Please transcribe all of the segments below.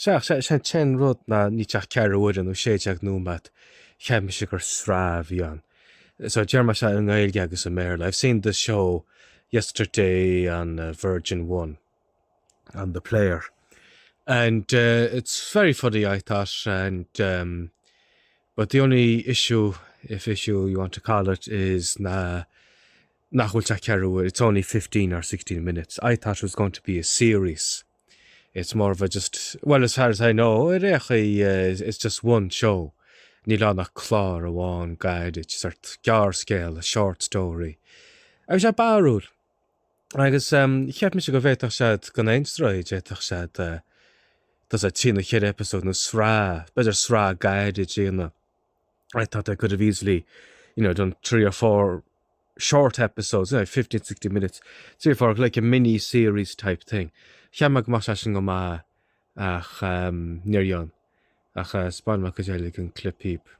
Sea, is é an t-aon rud ná níl sé ach ceathrú uaire nó sé déag nóiméad, cheap mise gur sraith a bhí ann. So déarfaidh mé seo i nGaeilge agus i mBéarla, I've seen the show yesterday on Virgin One, on the player, and it's very funny I thought and um but the only issue, if issue you want to call it, is ná nach bhfuil sé ach ceathrú uaire, it's only fifteen or sixteen minutes, I thought it was going to be a series. It's more of a just, well as far as I know, ar aon chaoi it's just one show, níl ann ach clár amháin gairid, sórt gearrscéal, a short story. Agus sé barrúil. Agus cheap mise go bhféadfadh siad gan aon stró, d'fhéadfadh siad, tá a fhios agat, trí nó cheithre episode nó sraith, b'fhéidir sraith gairid a dhéanamh. I thought I could have easily, you know, done three or four short episodes, you know, 15, 16 minutes, three or four, like a mini series type thing. Cheap mé go mbeadh sé sin go maith ach ehm níor dhein. Ach eh spáinfidh mé cuid eile den clip dhaoibh.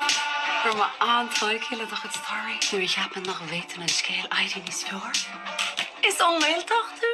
Raibh mé an-tógtha le do chuid staraí nuair a cheap mé nach bhféadfadh an scéal éirí níos fearr. Is ón nGaeltacht thú?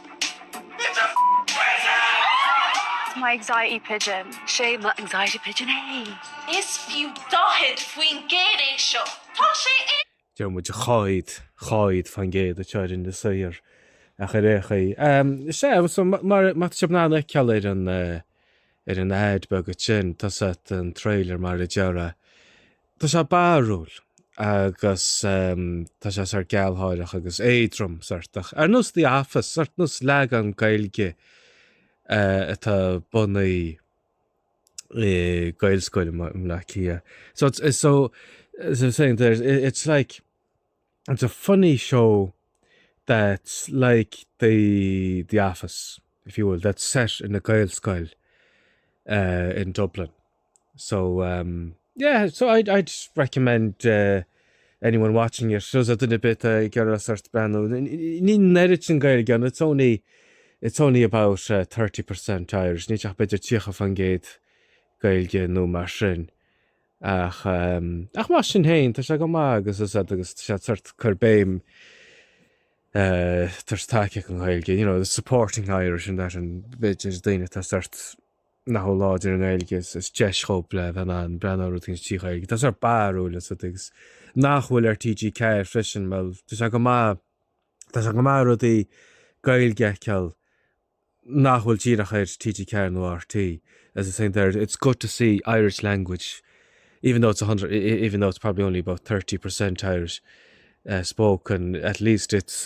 It's my anxiety pigeon. Sé mo anxiety pigeon é. Is fiú 40% é seo. Tá sé i. Deir muid dhaichead, dhaichead fán gcéad a teorainn is oighear ach ar aon chaoi. Sea, so mar tá sibh in ann a fheiceáil ar an ar an ad beag sin, tá a fhios agat, an trailer mar a déarfá Tá sé barrúil agus tá sé sórt gealgháireach agus éadrom, sórt, ach ar nós The Office, sórt, nós leagan Gaeilge atá bunaithe i Gaelscoil i mBleá Cliath. So it's, it's so, as I was saying there, it's like, it's a funny show that's like the, the Office, if you will, that's set in a Gaelscoil uh, in Dublin. So um, yeah, so I'd, I'd recommend uh, anyone watching it so duine ar bith uh, ag iarraidh sórt breathnú. Níl an oiread sin Gaeilge ann, it's only it's only about uh, 30% Irish. Níl sé ach b'fhéidir tríocha fán gcéad Gaeilge nó mar sin. Ach, um, ach mar sin féin, tá sé go maith agus is agus sé sórt cur béim uh, tá a fhios agat, tacaíocht don Ghaeilge, you know, the supporting Irish and that agus b'fhéidir daoine atá sórt nach bhfuil láidir i nGaeilge, is deis dhóibh le bheith in ann breathnú ar rud éigin trí Ghaeilge. Atá sórt barrúil is rud agus nach bhfuil ar TG4 freisin, bhuel, tá sé go maith, tá sé go maith rudaí Gaeilge a fheiceáil nach bhfuil díreach ar TG4 nó ar RTÉ. As I was saying there, it's good to see Irish language, even though it's a hundred, even though it's probably only about thirty percent Irish spoken, at least it's,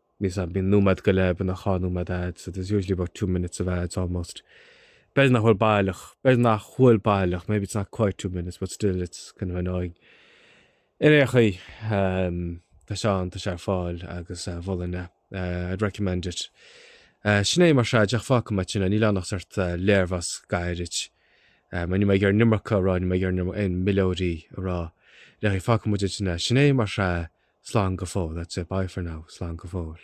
Measaim, bíonn nóiméad go leith, bíonn dhá nóiméad ads, there's usually about two minutes of ads almost. B'fhéidir nach bhfuil baileach, b'fhéidir nach bhfuil baileach, maybe it's not quite two minutes but still it's kind of annoying. Ar aon chaoi, tá sé ann, tá sé ar fáil agus mholfainn é, I'd recommend it. Sin é mar sin, a dheaide, fágfaidh muid ansin é, níl ann ach sórt léirmheas gairid. Níl mé ag iarraidh an iomarca a rá, níl mé ag iarraidh aon mhilleoirí a rá, le go, fágfaidh muid ansin é. Sin é, mar sin, slán go fóill, that's it, bye for now, slán go fóill.